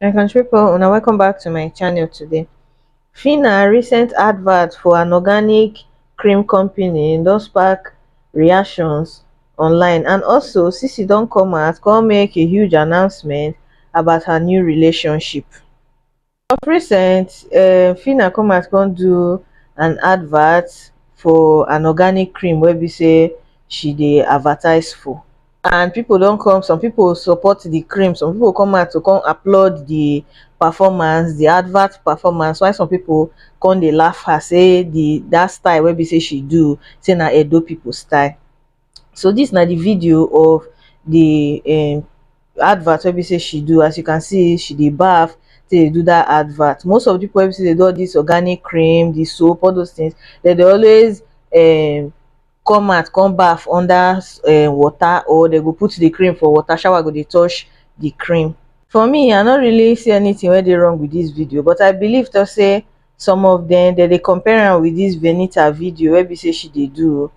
my country people una welcome back to my channel today fina recent advert for an organic cream company don spark reactions online and also sisi don come out come make a huge announcement about her new relationship of recent um phyna come out come do an advert for an organic cream wey be say she dey advertise for and people don come some people support the cream some people come out to come applaud the performance the advert performance why some people come dey laugh her say the that style wey be say she do say na Edo people style so dis na di video of di um advert wey be sey she do as you can see she dey baff take dey do dat advert. Most of di pipu wey be sey dey do all dis organic cream, di soap all those things dem dey always um come out come baff under um water or dey go put di cream for water shower go dey touch di cream. For me I no really see anything wey dey wrong with dis video but I believe talk sey some of dem dem dey compare am with this venita video wey be say she dey do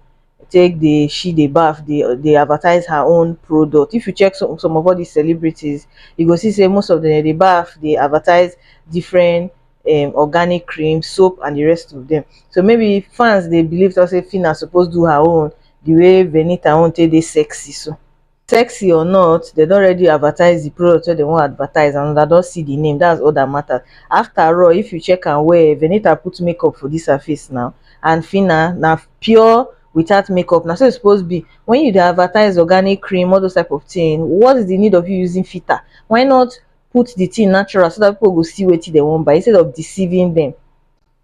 take dey she dey baff dey dey advertise her own product if you check some some of all these celebrities you go see say most of them dey baff dey advertise different um organic cream soap and the rest of them so maybe fans dey believe talk say Phyna suppose do her own the way venita own take dey sexy so sexy or not dem don already advertise the product wey dem wan advertise and una don see the name that's all that matters after all if you check am well Venita put make up for this her face now and Phyna na pure without make up na so e suppose be when you dey advertise organic cream all those type of thing what is the need of you using filter why not put the thing natural so that people go see wetin dem wan buy instead of deceiving them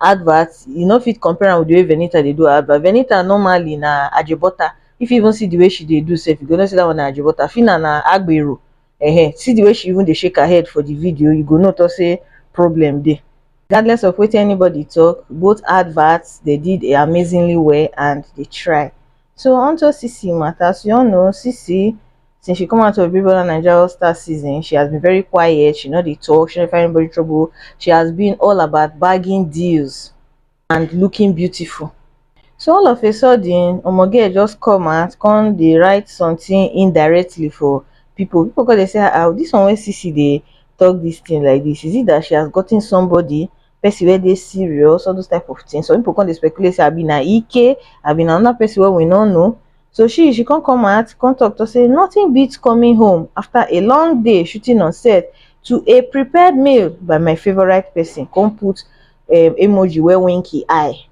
advert you no fit compare am with the way Venita dey do her advert. Venita normally na ajebota. If you even see the way she dey do sef, you go know say that one na ajebota. Fina na agbero. Ehen, see the way she even dey shake her head for the video, you go know talk say problem dey. Regardless of wetin anybody talk, both adverts they did amazingly well and they try. So onto Sisi matter, as you all know, Sisi since she come out of Big Brother Naija All Star season, she has been very quiet, she no dey talk, she no find anybody trouble, she has been all about bagging deals and looking beautiful. So all of a sudden, Omoge just come out, come dey write something indirectly for people. People go dey say, ah, ah, this one wey Sisi dey talk this thing like this, is it that she has gotten somebody person wey dey serious, all those type of things. Some people come dey speculate say abi na Ike, abi na another person wey we no know. So she she come come out, come talk to say nothing beats coming home after a long day shooting on set to a prepared meal by my favourite person, come put um emoji wey wink e eye.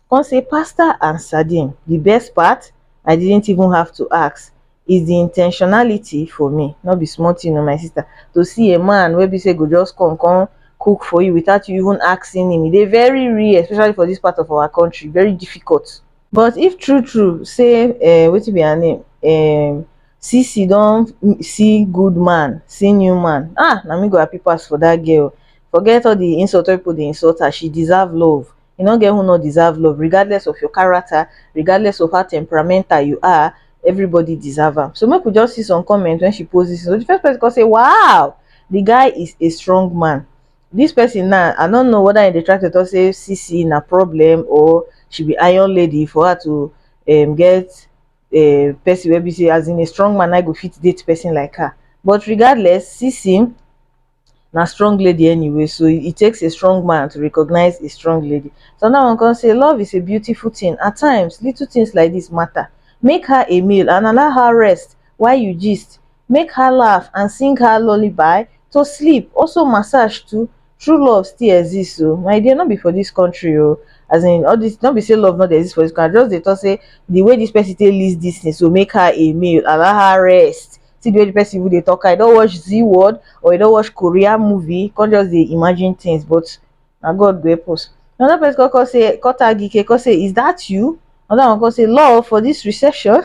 come say pasta and sardine the best part i didn't even have to ask is the intentionality for me no be small thing o my sister to see a man wey be say go just come come cook for you without you even asking him e dey very rare especially for this part of our country very difficult but if true true say um wetin be her name um Sisi don see good man see new man ah na me go happy pass for that girl forget all the insult wey people dey insult her she deserve love e no get who no deserve love regardless of your character regardless of how temperamental you are everybody deserve am so make we just see some comments when she post this so the first person come say wow the guy is a strong man this person now i don't know whether in the track to talk say cc na problem or she be iron lady for her to um, get a person wey be say as in a strong man i go fit date person like her but regardless cc na strong lady anyway so it takes a strong man to recognize a strong lady so now I'm gonna say love is a beautiful thing at times little things like this matter make her a meal and allow her rest while you gist make her laugh and sing her lullaby to sleep also massage too true love still exists oh my dear not be for this country oh as in all this not be say love not exist for this country just they talk say the way this person take list this thing so make her a meal allow her rest see the way the person even dey talk am e don watch zee world or e don watch korean movie come just dey imagine things but na God go help us another person come come say come tag Ike come say is that you another one come say lol for this recession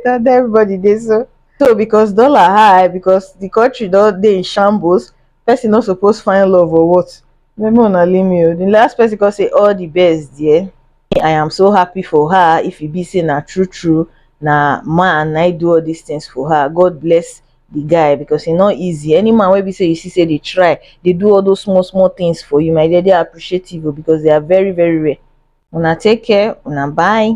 na there everybody dey so so because dollar high because the country don dey in shambles person no suppose find love or what make una leave me o the last person come say all the best dear i am so happy for her if e be say na true true na man na do all these things for her god bless the guy because e no easy any man wey be say you see say dey try dey do all those small small things for you my dear dey appreciative o because they are very very rare una take care una bye